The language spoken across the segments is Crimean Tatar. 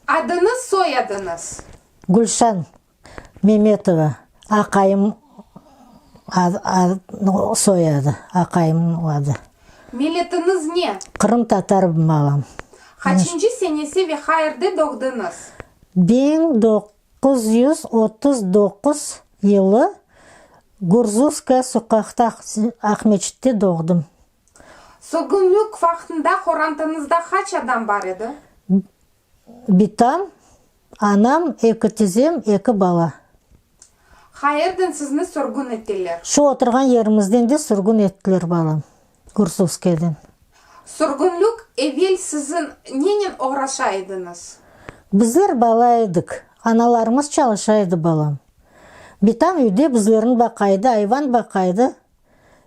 Adıñız, soyadıñız? Gülşan Memetova, aqayım soyadı, aqayımnıñ adı. Milletiñiz ne? Qırım tatarım balam. Qaçıncı senesi ve qayerde doğdıñız? Biñ doquz yüz otuz doquz yılı Gurzuvskaya soqaqta Aqmeçitte doğdım. Sürgünlik vaqtında qorantanızda qaç adam bar edi? Bitam, anam, eki tizem, eki bala. Qayerden sizni sürgün ettiler? Şu oturğan yerimizden de sürgün ettiler, balam, Gursuvskiyeden. Sürgünlik evel sizin nenen oğraşa ediñiz? Bizler bala edik, analarımız çalışa edi, balam. Bitam üyde bizlerni baqa edi, ayvan baqa edi.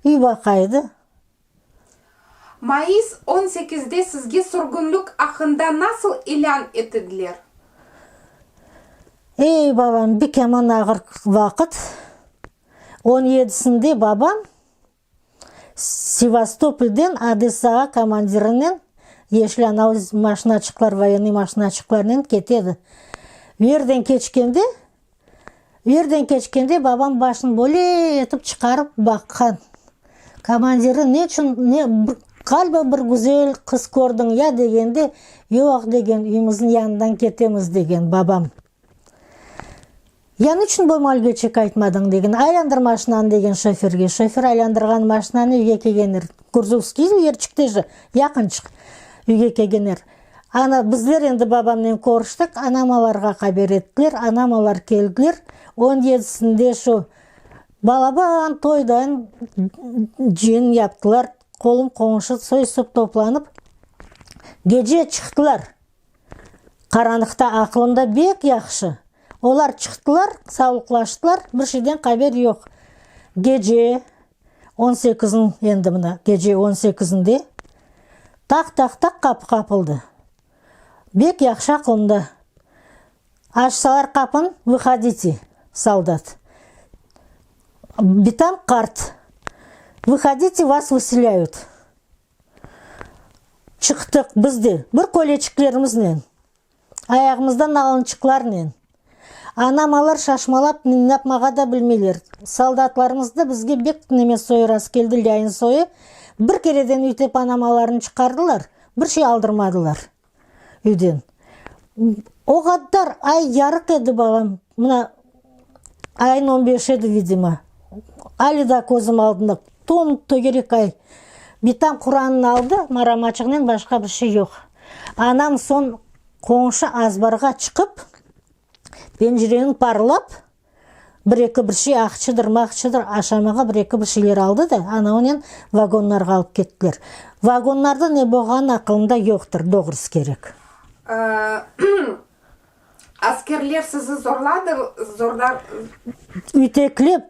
İy vaqaydı. Mayıs on sekizde sizge sürgünlik aqqında nasıl ilân etidiler? Ey babam, bir keman ağır vaqıt. On yedisinde babam Sevastopolden Odesağa komandirinen yeşlân av maşinaçıqlar, voyennıy maşinaçıqlarnen ketedi. Yerden keçkende Yerden keçkende babam başını böyle etip çıqarıp baqqan. Komandiri ne içün, ne, bir, qaliba bir güzel qız kördiñ ya degende, yoq, degen, üyümizniñ yanından ketemiz, degen babam. Ya ne içün bu malgöçek aytmadıñ, degen, aylandır maşinanı, degen şoferge. Şofer aylandırğan maşinanı, üyge kelgener. Kurzufskiy yerçikteji, yaqınçıq üyge kelgener. Ana, bizler endi babamnen körüştik, anam olarğa qaber ettiler, anam olar keldiler, on yedisinde şu balaban toydan cın yaptılar, qolum qoñşu soy sop toplanıp gece çıqtılar, qaranlıqta aqlımda bek yahşı, olar çıqtılar, savlıqlaştılar, bir şeyden qaber yoq, gece. On sekizin, endi mına gece on sekizinde taq, taq, taq qapı qapıldı. Bek yahşı aqlımda. Açsalar qapın, Vıhodite, soldat. Bitam qart, Vıhodite, vas vıselâyut. Çıqtıq biz de, bir köleçiklerimiznen. ayağımızda nalınçıqlarnen. Anam-alar şaşmalap minnapmağa da bilmeyler. Soldatlarımızdı bizge bek tıneme soyurası keldi lâin soyı, bir kereden üytep anam-alarını çıqardılar, bir şey aldırmadılar üyden. O qadar ay yarıq edi, balam, mına, Ayın on beş edi, vidimo. Alı da közüm aldında, tom tögerek ay. Bitam Quranını aldı, maramaçıqnen başqa bir şey yoq. Anam soñ qoñşu azbarğa çıqıp, pencireni parlap, bir eki bir şey, aqçıdır, maqçıdır, aşamağa bir eki bir şeyler aldı da, anaunen vagonlarğa alıp kettiler. Vagonlarda ne bolğanı aqılımda yoqtır, doğrusı kerek. Askerler sizi zorladılar? Üteklep,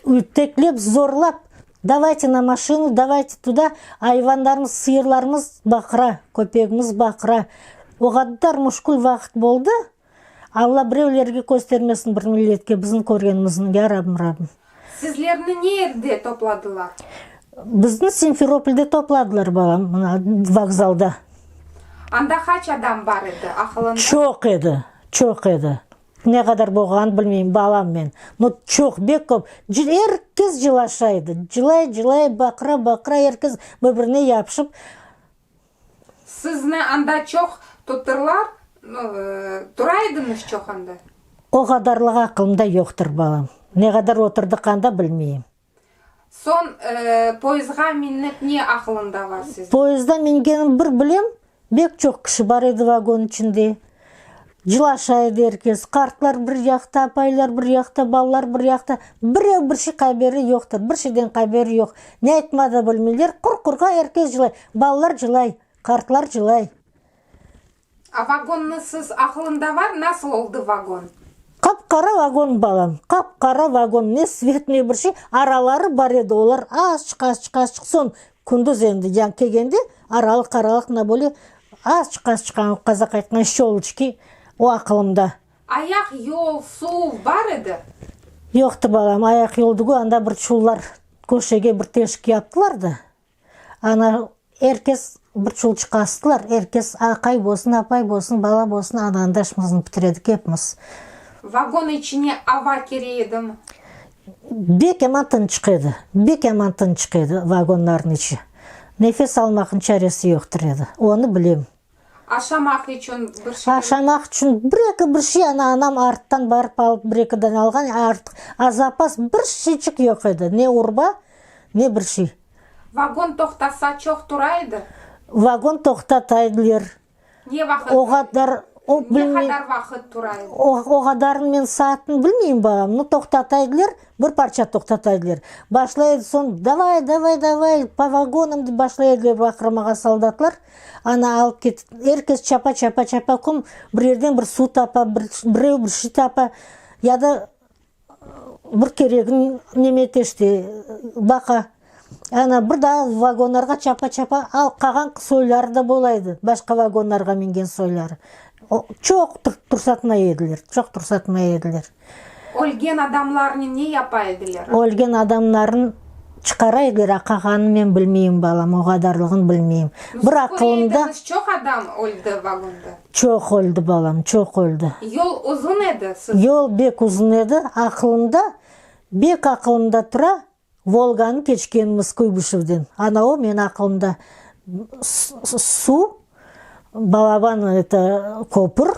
üteklep, zorlap, davayte na maşinu, davayte tuda, ayvanlarımız, sıyırlarımız baqıra, köpegimiz baqıra. O qadar müşkül vaqıt boldı, Alla birevlerge köstermesin bir milletke bizim körgenimizniñ, ya Rabim, Rabim. Sizlerni neerde topladılar? Bizni Simferopolde topladılar, balam, mına, vokzalda. Anda qaç adam bar edi, aqılında? Çoq edi, çoq edi. Ne qadar bolğanını bilmeyim, balam men. No, çoq, bek köp. Er kes cılaşa edi. Cılay, cılay, baqıra, baqıra, er kes bir-birine yapışıp. Sizni anda çoq tutırlar, tura ediñiz çoq anda? O qadarlıq aqılımda yoqtır, balam. Ne qadar oturdıq anda, bilmeyim. Soñ poezdğa minnek ne aqılıñda bar sizniñ? Poezdğa mingenim bir bilem, bek çoq kişi bar edi vagon içinde. Cılaşa edi er kes, qartlar bir yaqta, apaylar bir yaqta, balalar bir yaqta, birev bir şey qaberi yoqtır, bir şeyden qaberi yoq, ne aytmağa da bilmeyler, qur-qurğa er kes cılay, balalar cılay, qartlar cılay. A vagonnı siz aqlında var, nasıl oldı vagon? Qap-qara vagon, balam, qap-qara vagon, ne svet, ne bir şey, araları bar edi, olar azçıq, azçıq, azçıq, soñ Kündüz endi yañ kelgende, aralıq-aralıq mına böyle azçıq-az çıqan, qazaq aytqan şöluçki, o aqılımda. Ayaq yol, suv bar edi? Yoqtı, balam. Ayaq yol degü, anda bir çullar köşege bir teşik yaptılar da, ana er kes bir çulçıqqa astılar, er kes aqay bolsun, apay bolsun, bala bolsun, ana anda işimizni bitir edik, epimiz. Vagon içine ava kire edimi? Bek eman tınçıq edi, bek eman tınçıq edi vagonlarnıñ içi. Nefes almaqnıñ çaresi yoqtır edi, onı bilem. Aşamaq içün bir şey. Aşamaq içün bir-eki bir şey, ana, anam arttan barıp alıp bir-eki dane alğan, artıq azapas bir şeyçik yoq edi, ne urba, ne bir şey. Vagon toqtasa çoq tura edi? Vagon toqtataydılar. O qadar, o bilmey, o qadarını men saatnı bilmeyim, balam, no toqtata ediler, bir parça toqtata ediler, başlay edi soñ, davay, davay, davay, po vagonam, dep başlay ediler baqırmağa soldatlar, ana alıp ket, er kes çapa, çapa, çapa, kim bir yerden bir suv tapa, bireu bir şey tapa, ya da Bir keregin neme teşti, baqa. Ana, bir daa vagonlarğa çapa-çapa al, qağan soyları da bola edi, başqa vagonlarğa mingen soyları. O, çoq tursatmay ediler, çoq tursatmay ediler. Ölgen adamlarnı ne yapa ediler? Ölgen adamlarnı çıqara ediler, a qağanını men bilmeyim, balam, o qadarlığını bilmeyim. Bir aqılımda. Siz körmediniz, çoq adam öldi vagonda? Çoq oldı, balam, çoq oldı. Yol uzun edi, siz. Yol bek uzun edi, aqılımda, bek aqılımda tura, Volganı keçkenimiz Kuybışevden. Ana o, meni aqılımda suv, balaban eto köpür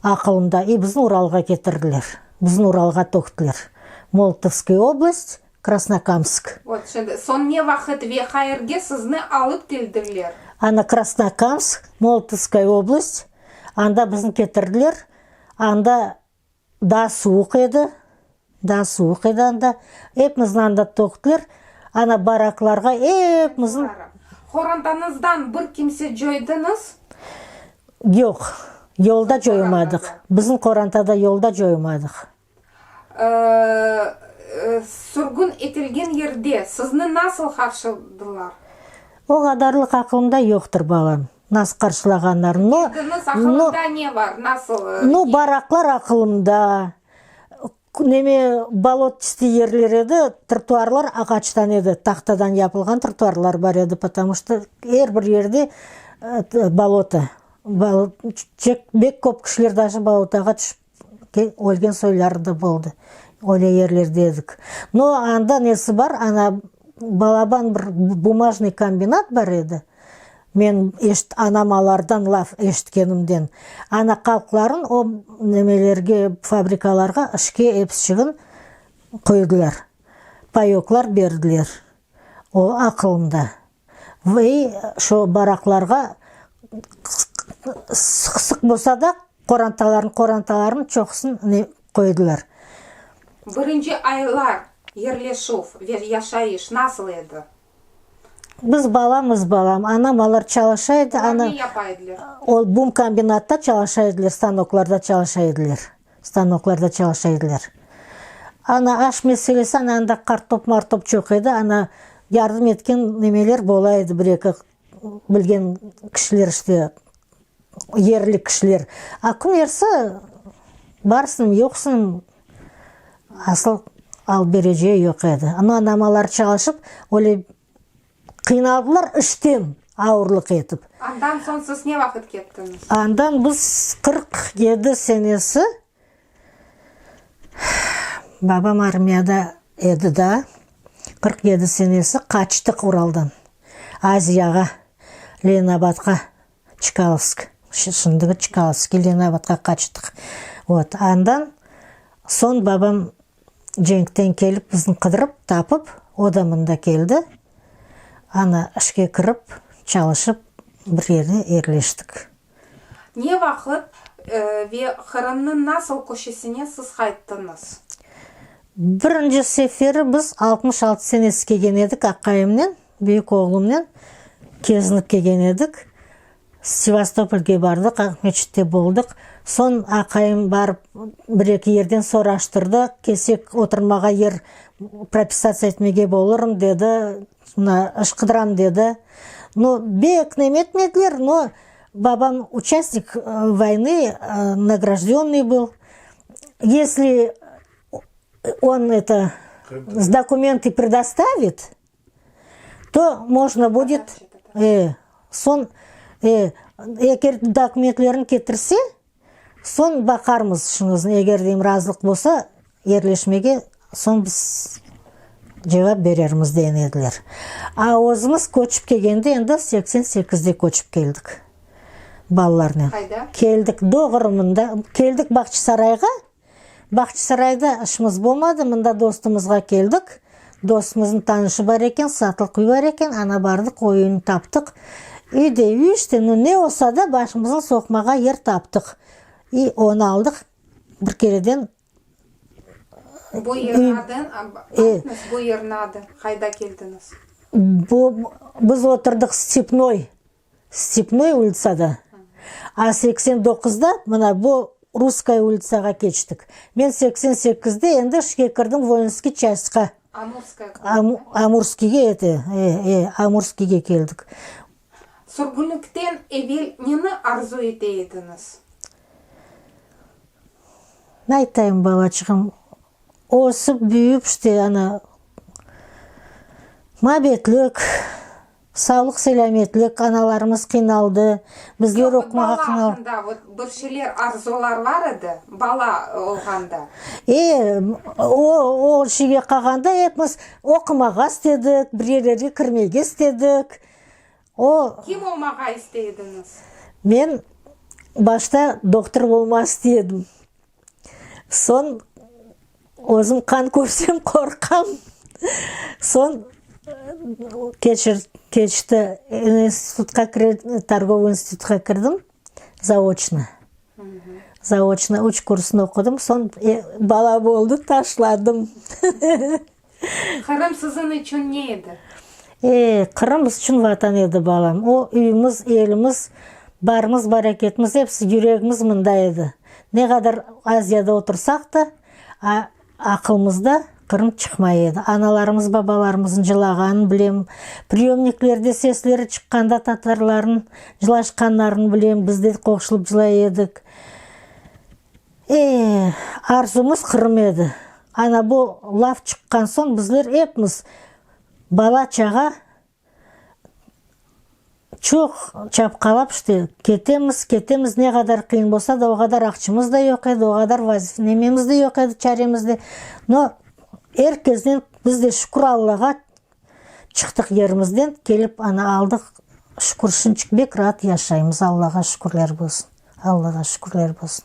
aqılımda, i bizni Uralğa ketirdiler, bizni Uralğa töktiler. Moltovskıy oblast, Krasnokamsk. Vot şimdi, soñ ne vaqıt ve qayerge sizni alıp keldirler? Ana, Krasnokamsk, Molotovskoye oblast, anda bizni ketirdiler. Anda daa suvuq edi, daa suvuq edi anda. Epimizni anda töktüler, ana, baraklarğa epimizni. Qorantanızdan bir kimse coydıñız? Yoq, yolda coymadıq. Bizni qorantada yolda coymadıq. Sürgün etilgen yerde sizni nasıl qarşıladılar? O qadarlıq aqılımda yoqtır, balam, nasıl qarşılağanlarını. No, no. Bildiniz, aqılında ne bar, nasıl? No, baraqlar aqılımda, neme, bolotçıstiy yerler edi, trotuarlar ağaçtan edi, tahtadan yapılğan trotuarlar bar edi, potamı şto er bir yerde boloto. Bek köp kişiler daşı bolotağa tüşip Ölgen soyları da boldı. Öyle yerlerde edik. No, anda nesi bar, ana, balaban bir bumajnıy kombinat bar edi. Men anam alardan laf eşitkenimden. Ana, qalqların o nemelerge, fabrikalarğa işke epişigin qoydılar. Payoklar berdiler. O, aqılımda. Ve şu baraqlarğa sıq-sıq bolsa da qorantalarnı, qorantalarnıñ çoqusını qoydılar. Birinci aylar yerleşüv ve yaşayış nasıl edi? Biz balamız, balam. Anam alar çalışa edi. Olar ne yapa ediler? Ol bum kombinatta çalışa ediler, stanoklarda çalışa ediler. Stanoklarda çalışa ediler. Ana, aş meselesi, ana, anda qartop-martop çoq edi, ana, yardım etken nemeler bola edi, bir-eki bilgen kişiler işte, yerli kişiler. A kümerse, barsıñ, yoqsıñ, asıl alıp bereceği yoq edi. Amma anamalar çalışıp, öyle Qıynaldılar işten ağırlıq etip. Andan soñ siz ne vaqıt kettiñiz? Andan biz qırq yedi senesi babam armiyada edi da, qırq yedi senesi qaçtıq Uraldan Aziyağa, Leninabadqa, Çkalovsk, şimdiki Çkalovsk, Leninabadqa qaçtıq. Vot, andan soñ babam Cenkten kelip, bizni qıdırıp tapıp, o da mında keldi. Ana, işke kirip, çalışıp, bir yerde yerleştik. Ne vaqıt ve Qırımnıñ nasıl köşesine siz qayttıñız? Birinci seferi biz altmış altı senesi kelgen edik, aqayımnen, büyük oğlumnen kezinip kelgen edik. Sevastopolge bardıq, Aqmeçitte boldıq. Soñ aqayım barıp, bir-eki yerden soraştırdı, kelsek, oturmağa yer propisatsiya etmege bolurım, dedi, mına, ışqıdıram, dedi. No, bek nemetmediler, no, babam uçastnik voynı, nagraždennıy bıl. Yesli on, eto, dokumenti predostavit. To možno budet, e, soñ, e, eger dokumentlerini ketirse, soñ baqarmız şuñızın, eger deyim, razılıq bolsa, yerleşmege soñ biz cevap berermiz, degen ediler. A özümiz köçip kelgende endi seksen sekizde köçip keldik balalarnen. Keldik Doğrımında, keldik Bağçasarayğa, Bağçısarayda işimiz bolmadı, mında dostumızğa keldik. Dostumıznıñ tanışı bar eken, satlıq üy bar eken, aña bardıq, o üyni taptıq. Üy de üy işte, no ne olsa da başımıznı soqmağa yer taptıq. İ onı aldıq, bir kereden. Bu yerniñ adı, aytınız, bu yerniñ adı, qayda keldiñiz? Bu, biz oturdıq Stepnoy. Stepnoy ulitsada, A seksen doquzda, mına bu Russkaya ulitsağa keçtik. Men seksen sekizde endi işke kirdim Voinskiy çastqa. Amurskıya kurdunız. Amurskiyge, ete, e, e, Amurskiyge keldik. Sürgünlikten evel neni arzu ete ediñiz? Ne aytayım, balaçığım, ösip, büyüyip, işte, ana, mabetlik, Sağlıq-selâmetlik, analarımız qıynaldı, bizler oqumağa qıynal. Yoq, bala aqqında vot bir şeyler arzular bar edi, bala olğanda. E, o, o şeyge qalğanda epimiz oqumağa istedik, bir yerlerge kirmege istedik. O. Kim olmağa istey ediñiz? Men başta doktor olmaq istey edim. Soñ özüm qan körsem qorqam. Soñ keçir, keçti, institutqa kire, torgovıy institutqa kirdim, zaoçnı. Zaoçnı üç kursnı oqudım, soñ bala oldı, taşladım. Qırım siziñ içün ne edi? E, Qırım biz içün Vatan edi, balam. O, üyümiz, elimiz, barımız, baraketimiz, episi, yüregimiz mında edi. Ne qadar Aziyada otursaq da, a, aqılımızda Qırım çıqmay edi. Analarımız, babalarımızın cılağanın bilem, priyomniklerde sesleri çıqqanda tatarlarnıñ cılaşqanlarını bilem, biz de qoşılıp cılay edik. E, arzumız Qırım edi. Ana bu laf çıqqan soñ bizler epimiz, bala-çağa çoq çapqalap işte ketemiz, ketemiz, ne qadar qıyın bolsa da, o qadar aqçımız da yoq edi, o qadar nememiz de yoq edi çaremiz de. No, er kesden biz de şükür Allağa, Çıqtıq yerimizden, kelip ana aldıq, şükür, şunçik bek raat yaşaymız, Allağa şükürler bolsun, Allağa şükürler bolsun.